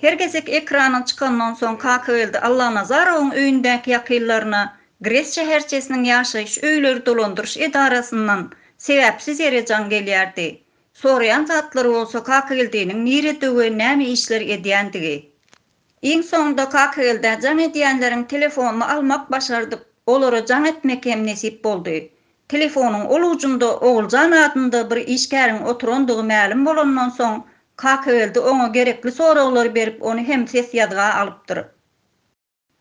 Her gezek ekranyň çykandan soň Kakageldi Allanazarowyň öýündäki ýakynlaryna Gres şäherçesiniň ýaşaýyş öýleri dolandyryş edarasyndan sebäpsiz ýere jaň gelýärdi. Soraýan zatlary bolsa Kakageldiniň nirede we näme işler edýändigi. Iň soňunda Kakagelda jaň edýänleriň telefonyny almak başardyp, olara jaň etmek hem nesip boldy. Telefonyň ol ujunda Oguljan adynda bir işgäriň oturandygy mälim bolandan soň, Kakageldi oňa gerekli soraglary berip, ony hem ses ýazga alypdyr.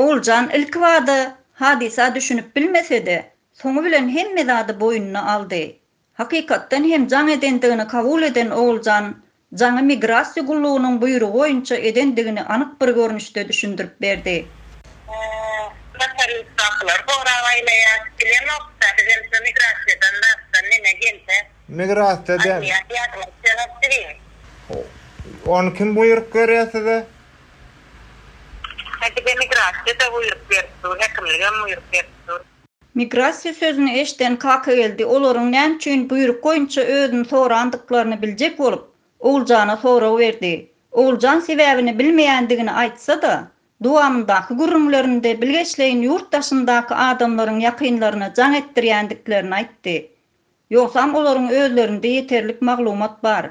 Oguljan ilkibada hadysa düşünip bilmese-de, soňy bilen hemme zady boýnuna aldy. Hakykatdan hem jaň edendigini kabul eden Oguljan jaňy migrasiýa gullugynyň buýrugy boýunça edendigini anyk bir görnüşde düşündirip berdi. Notariusdakylar gorap aýlaýar. Bilemokda, bizem şo migrasiýadan zatdan neme gelse. Migrasiýa diýen. Aýlaýar, ýadyma düşenok diýiň. Ony kim buýruk berýär size? Häkide migrasiýa-da buýruk berip dur, häkimligem buýruk berip dur. Migrasiýa sözüni eşden Kakageldi olaryň näme üçin buýruk boýunça özüni sorandyklaryny biljek bolup, Oguljana sorag berdi. Oguljan sebäbini bilmeýändigini aýtsa-da, dowamyndaky gürrüňlerinde bilgeşleýin ýurt daşyndaky adamlaryň ýakynlaryna jaň etdirýändiklerini aýtdy. Ýogsam olaryň özlerinde ýeterlik maglumat bar.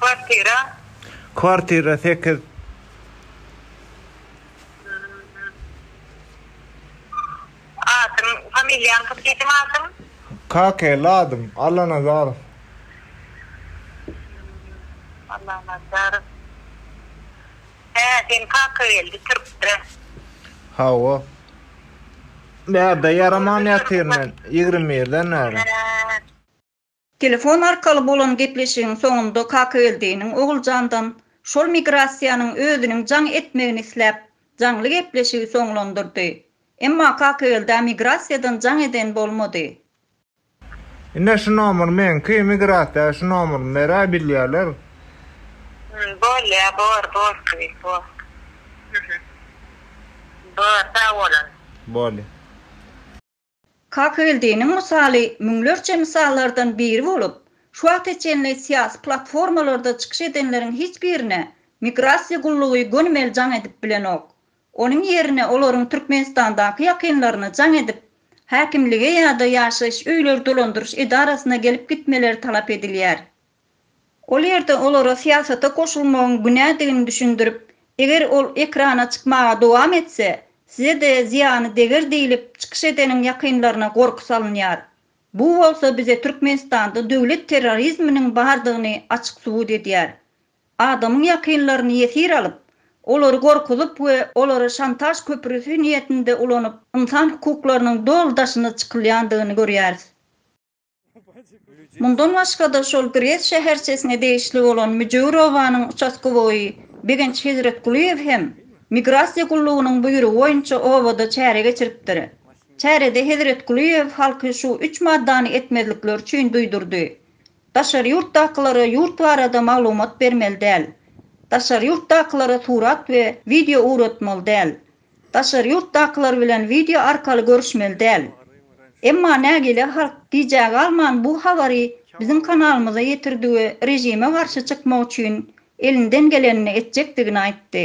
Kwartira. Kwartira sekiz. Adyň, familiýaň kim diýdiň adyň? Kakely adym, Allanazarow. Allanazarow. Hä, seň kaka geldi türkde. Hawa. Bärde ýaraman ýatyryn men, ýigrimi birden bäri. Hä. Telefon arkaly bolan gepleşigiň soňunda Kakageldiniň Oguljandan şol migrasiýanyň özüniň jaň etmegini isläp, jaňly gepleşigi soňlandyrdy. Emma Kakageldä migrasiýadan jaň eden bolmady. Ine şu nomer meňki, migrasiýa şu nomerymy berä bilýärler. Hum bolýa bor bor kyn bor hum hum bor sag bolun. Bolýa. Kakyldiniň mysaly müňlerçe mysallardan biri bolup, şu wagta çenli syýasy platformalarda çykyş edenleriň hiç birine migrasiýa gullugy gönümel jaň edip bilenok. Onuň ýerine olaryň Türkmenistandaky ýakynlaryna jaň edip, häkimlige ýa-da ýaşaýyş öýleri dolandyryş edarasyna gelip gitmeleri talap edilýär. Ol ýerde olara syýasata goşulmagyň günädigini düşündirip, eger ol ekrana çykmaga dowam etse, size-de zyýany deger diýlip, çykyş edeniň ýakynlaryna gorky salynýar. Bu bolsa bize Türkmenistanda döwlet terrorizminiň bardygyny açyk subut edýär. Adamyň ýakynlaryny ýesir alyp, olary gorkuzyp we olary şantaž köprüsi niýetinde ulanyp, ynsan hukuklarynyň doly daşyna çykylýandygyny görýäris. Mundan başga-da, şol Brest şäherçesine degişli bolan Müjewürowanyň uçastkowoýy Begenç Hezretgulyýew hem Migrasiýa gullugynyň buýrugy boýunça obada çäre geçiripdir. Çärede Hezretgulyýew halky şu üç maddany etmezlikleri üçin duýdurdy, Daşary ýurtdakylara ýurt barada maglumat bermeli däl. Daşary ýurtdakylara surat we wideo ugratmaly däl. Daşary ýurtdakylar bilen wideo arkaly görüşmeli däl. Emma nägile halk gijä galman bu habary biziň kanalymyza ýetirdi we režime garşy çykmak üçin elinden gelenini etjekdigini aýtdy.